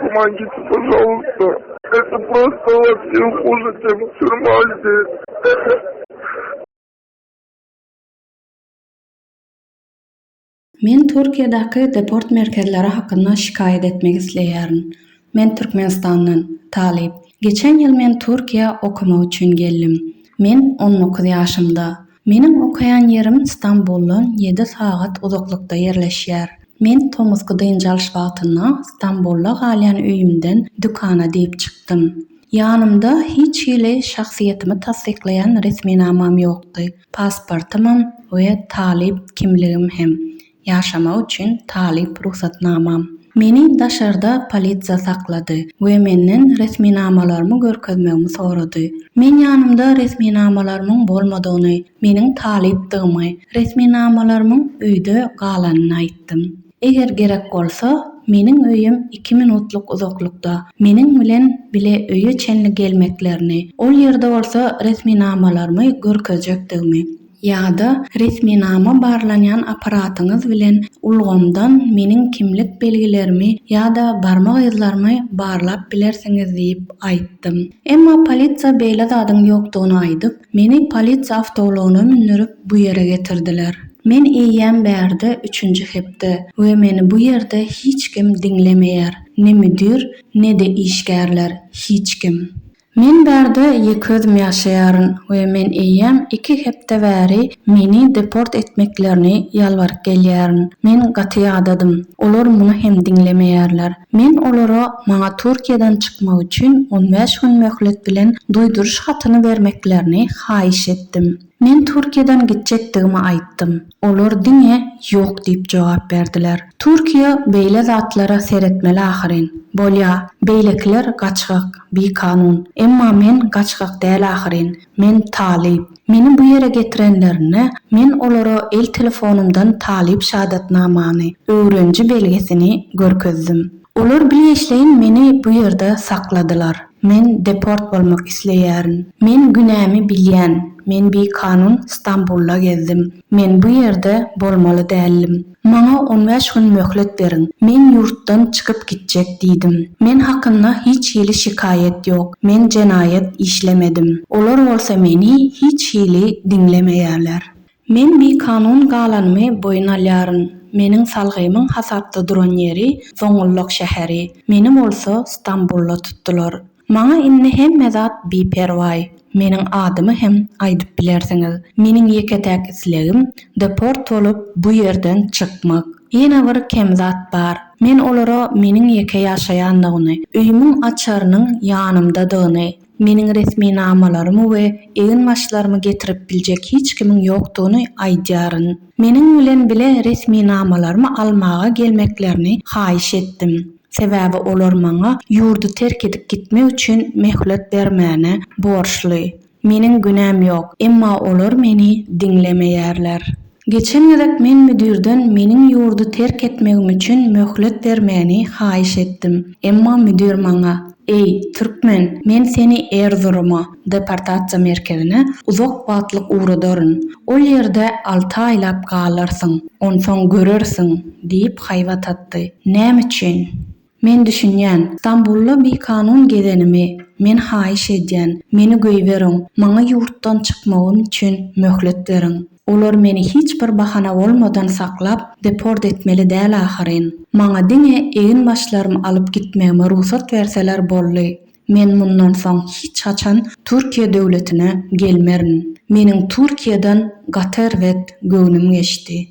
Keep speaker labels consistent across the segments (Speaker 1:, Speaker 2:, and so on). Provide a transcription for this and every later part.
Speaker 1: Guman gitdi bu sowukda. Eti prosta bar diýip guzy çekip sürüm aýdy.
Speaker 2: Men Türkiýedäki deport merkezleri hakynda şikaýat etmek isleýärin. Men Türkmenistandan, talyp. Geçen ýyl men Türkiýä okamak üçin geldim. Men on dokuz ýaşymda. Meniň okaýan ýerim Stambuldan ýedi sagat uzaklykda ýerleşýär. Men tomusky dynç alyş wagtynda Stambulda galýan öýümden dükana diýip çykdym. Ýanymda hiç hili şahsyýetimi tassyklaýan resminamam ýokdy, pasportymam we talyp kimligim hem. Ýaşamak üçin talyp rugsatnamam. Meni daşarda polisiýa saklady we menden resminamalarymy görkezmegimi sorady. Men ýanymda resminamalarymyň bolmadygyny, meniň talypdygymy, resminamalarymyň öýde galanyny aýtdym. Eger gerek bolsa, meniň öýüm iki minutlyk uzaklykda, meniň bilen bile öýe çenli gelmeklerini, ol ýerde bolsa resminamalarymy görkezjekdigimi, ýa-da resminama barlanýan apparatyňyz bilen ulgamdan meniň kimlik belgilerimi ýa-da barmak yzlarymy barlap bilersiňiz diýip aýtdym. Emma polisiýa beýle zadyň ýokdugyny aýdyp, meni polisiýa awtoulagyna mündürip bu ýere getirdiler. Men eýýäm bärde üçünji hepde we meni bu ýerde hiç kim diňlemeýär, ne müdir, ne-de işgärler, hiç kim. Men bärde ýeke özüm ýaşaýaryn we men eýýäm iki hepde bäri meni deport etmeklerini ýalbaryp gelýärin. Men gaty ýadadym. Olar muny hem diňlemeýärler. Men olara maňa Türkiýeden çykmak üçin on bäş gün möhlet bilen duýduryş hatyny bermeklerini haýyş etdim. Men Türkiýeden gitjekdigimi aýtdym. Olar diňe ýok diýip jogap berdiler. Türkiýe beýle zatlara seretmeli ahyryn. Bolýa, beýlekiler gaçgak, bikanun. Emma men gaçgak däl ahyryn. Men talyp. Meni bu ýere getirenlerinde, men olara el telefonymdan talyp şadatnamany, öwreniji belgisini, görkezdim. Olar bilgeşleýin meni bu ýerde sakladylar. Men deport bolmak isleýärin. Men günämi bilýän, men bikanun Stambulda gezdim. Men bu ýerde bolmaly däldim. Maňa on bäş gün möhlet beriň, men ýurtdan çykyp gitjek diýdim. Men hakynda hiç hili şikaýat ýok, men jenaýat işlemedim. Olar bolsa meni hiç hili diňlemeýärler. Men bikanun galanymy boýun alýaryn. Meniň salgymyň hasapda duran ýeri Zoňgullak şäheri, meni bolsa Stambulda tutdular. Maňa indi hemme zat biperwaý. Meniň adymy hem aýdyp bilersiňiz. Meniň ýeke-täk islegim deport bolup, bu ýerden çykmak. Ýene bir kem zat bar. Men olara meniň ýeke ýaşaýandygyny, öýümiň açarynyň ýanymdadygyny, Meniň resminamalarymy we eginbaşlarymy getirip biljek hiç kimiň ýokdugyny aýdýaryn. Meniň bilen bile resminamalarymy almaga gelmeklerini haýyş etdim. Sebäbi olar maňa ýurdy terk edip gitmek üçin möhlet bermäne borçly. Meniň günäm ýok, emma olar meni diňlemeýärler. Geçen gezek men müdirden meniň ýurdy terk etmegim üçin möhlet bermegini haýyş etdim. Emma müdir maňa, Eý, türkmen, men seni Erzuruma, deportasiýa merkezine, uzak wagtlyk ugradaryn. Ol ýerde alty aýlap galarsyň. Onsoň görersiň! diýip haýbat atdy. Näme üçin? Men düşünýän. Stambulda bikanun gezenimi men haýyş edýän. Meni goýberiň. Maňa ýurtdan çykmagym üçin möhlet beriň. Olar meni hiç bir bahana bolmadan saklap, deport etmeli däl ahyryn. Maňa diňe eginbaşlarym alyp gitmegime rugsat berseler boldy. Men mundan soň hiç haçan Türkiýe döwletine gelmerin. Meniň Türkiýeden gaty erbet göwnüm geçdi.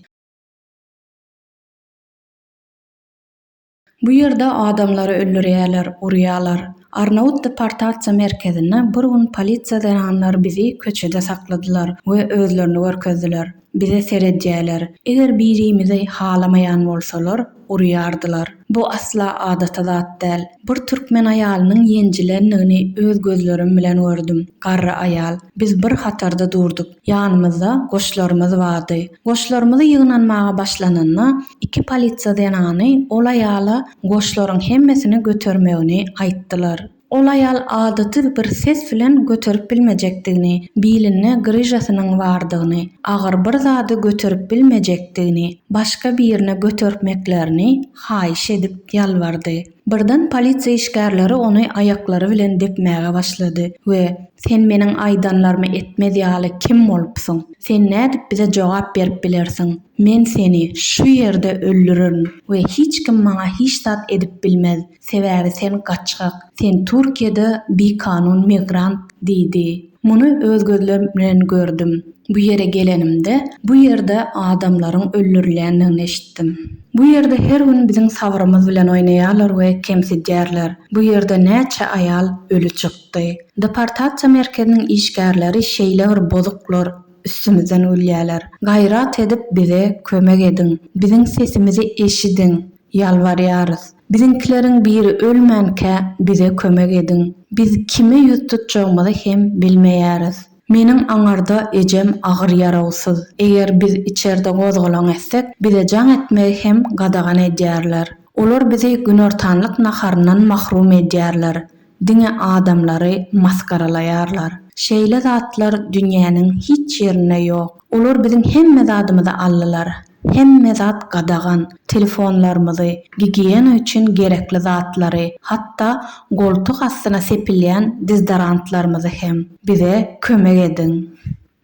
Speaker 2: Bu ýerde adamlary öldürýärler, urýarlar. Arnawut deportasiýa merkezinde bir gün polisiýa zenanlary bizi köçede sakladylar we özlerini görkezdiler. Bize seredýärler. Eger birimizi halamaýan bolsalar, urýardylar. Bu asla adaty zat däl. Bir türkmen aýalynyň ýenjilendigini öz gözlerim bilen gördüm. Garry aýal. Biz bir hatarda durduk. Ýanymyzda goşlarymyz bardy. Goşlarymyzy ýygnanmaga başlananda, iki polisiýa zenany ol aýala goşlaryň hemmesini götermegini aýtdylar. Ol aýal adaty bir ses bilen göterip bilmejekdigini, bilinde gryžasynyň bardygyny, agyr bir zady göterip bilmejekdigini, başga birine götertmeklerini haýyş edip ýalbardy. Birden polisiýa işgärleri ony aýaklary bilen depmäge başlady we Sen meniň aýdanlarymy etmez ýaly kim bolupsyň? Sen nädip bize jogap berip bilersiň? Men seni şu ýerde öldürerin we hiç kim maňa hiç zat edip bilmez, sebäbi sen gaçgak, sen Türkiýede bikanun migrant diýdi. Muny öz gözlerim bilen gördüm. Bu ýere gelenimde, bu ýerde adamlaryň öldürilýändigini eşitdim. Bu ýerde her gün biziň sabrymyz bilen oýnaýarlar we kemsidýärler. Bu ýerde näçe aýal öli çykdy. Deportasiýa merkeziniň işgärleri şeýle bir bozuklar, üstümizden gülýärler. Gaýrat edip bize kömek ediň. Biziň sesimizi eşidiň. Ýalbarýarys, biziňkileriň biri ölmänkä bize kömek ediň. Biz kime ýüz tutjagymyzy hem bilmeýäris. Meniň aňarda ejem agyr ýarawsyz. Eger biz içerde gozgalaň etsek, bize jaň etmegi hem gadagan edýärler. Olar bizi günortanlyk naharyndan mahrum edýärler. Diňe adamlary masgaralaýarlar. Şeýle zatlar dünýäniň hiç ýerinde ýok. Olar biziň hemme zadymyzy aldylar. Hemme zat gadagan. Telefonlarymyzy, gigiýena üçin gerekli zatlary, hatda goltuk astyna sepilýän dizdarantlarymyzy hem. Bize kömek ediň.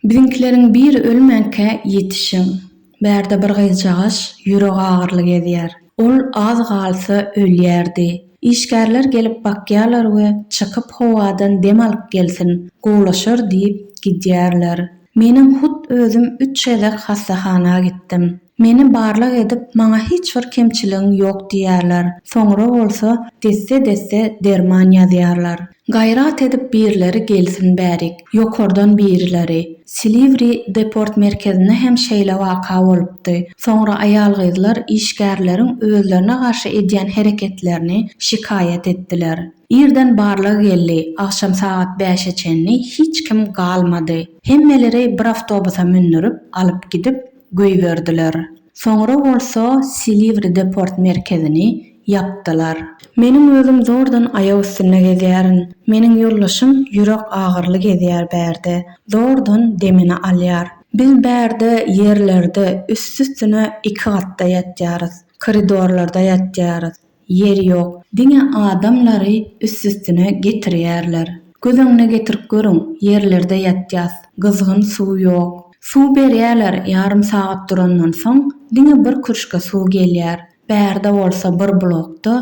Speaker 2: Biziňkileriň biri ölmänkä ýetişiň. Bärde bir gyzjagaş ýüregagyryly gezýär. Ol az galsa ölýärdi. Işgärler gelip bakýarlar we çykyp howadan dem alyp gelsin, gowlaşar diýip gidýärler. Menem hut özüm üç gezek hassahana gitdim. Meni barlag edip maňa hiç bir kemçiligiň ýok diýýärler, soňra bolsa desse-desse derman ýazýarlar. Gaýrat edip birleri gelsin bärik, ýokardan birileri. Silivri deport merkezinde hem şeýle waka bolupdy. Soňra aýal-gyzlar işgärleriň özlerine garşy edýän hereketlerini şikaýat etdiler. Irden barlag geldi, agşam sagat bäşe çenli hiç kim galmady. Hemmeleri bir awtobusa mündürip, alyp gidip, göýberdiler. Soňra bolsa Silivri deport merkezini ýapdylar. Meniň özüm zordan aýak üstünde gezýärin. Meniň ýoldaşym ýürek agyrly gezýär bärde. Zordan demini alýar. Biz bärde ýerlerde üst-üstüne iki gatda ýatýarys. Koridorlarda ýatýarys. Ýer ýok. Diňe adamlary üstüstüne getirýärler. Göz öňüne getirip görüň, ýerlerde ýatýas. Gyzgyn suw ýok. Suw berýärler, ýarym sagat durandan soň, diňe bir kürşge suw gelýär. Bärde bolsa bir blokda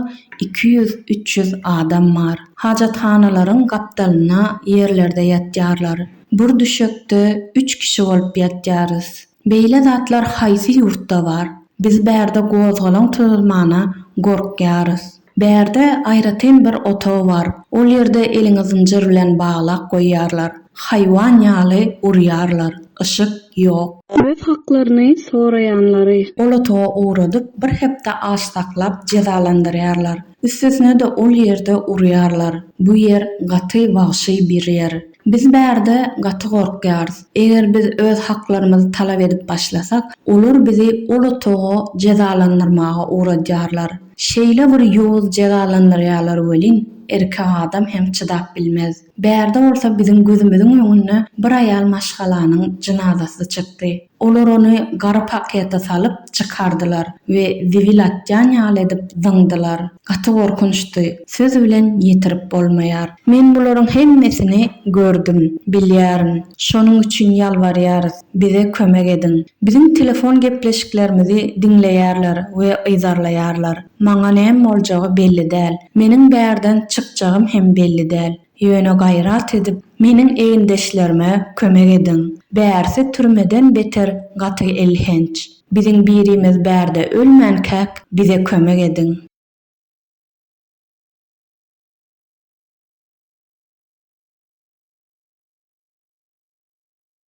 Speaker 2: iki ýüz, üç ýüz adam bar. Hajathanalaryň gapdalynda ýerlerde ýatýarlar. Bir düşekde üç kişi bolup ýatýarys. Beýle zatlar haýsy ýurtda bar? Biz bärde gozgalaň tuzulmana gorkýarys. Bärde aýratyn bir otag bar, ol ýerde eliňi zynjyr bilen baglap goýýarlar, haýwan ýaly urýarlar, yşyk ýok. Öz haklaryny soraýanlary. Ol otaga ugradyp, bir hepde aç saklap jezalandyrýarlar. Üstesine-de ol ýerde urýarlar. Bu ýer gaty wagşy bir ýer. Biz bärde gaty gorkýarys. Eger biz öz haklarymyzy talap edip başlasak, olar bizi ol otaga jezalandyrmaga ugradýarlar. Şeýle bir ýowuz jezalandyrýarlar welin, erkek adam hem çydap bilmez. Bärde bolsa biziň gözümiziň öňünde bir aýal maşgalanyň jynazasy çykdy. Olar ony gara pakete salyp, çykardylar we zibil atýan ýaly edip zyňdylar. Gaty gorkunçdy, söz bilen ýetirip bolmaýar. Men bularyň hemmesini gördüm, bilýärin. Şonuň üçin ýalbarýarys, bize kömek ediň. Biziň telefon gepleşiklerimizi diňleýärler we yzarlaýarlar. Maňa näme boljagy belli däl. Meniň bärden çykjagym hem belli däl. Ýöne gaýrat edip meniň egindeşlerime kömek ediň. Bärsi türmeden beter gaty elhenç. Biziň birimiz bärde ölmänkäk bize kömek ediň.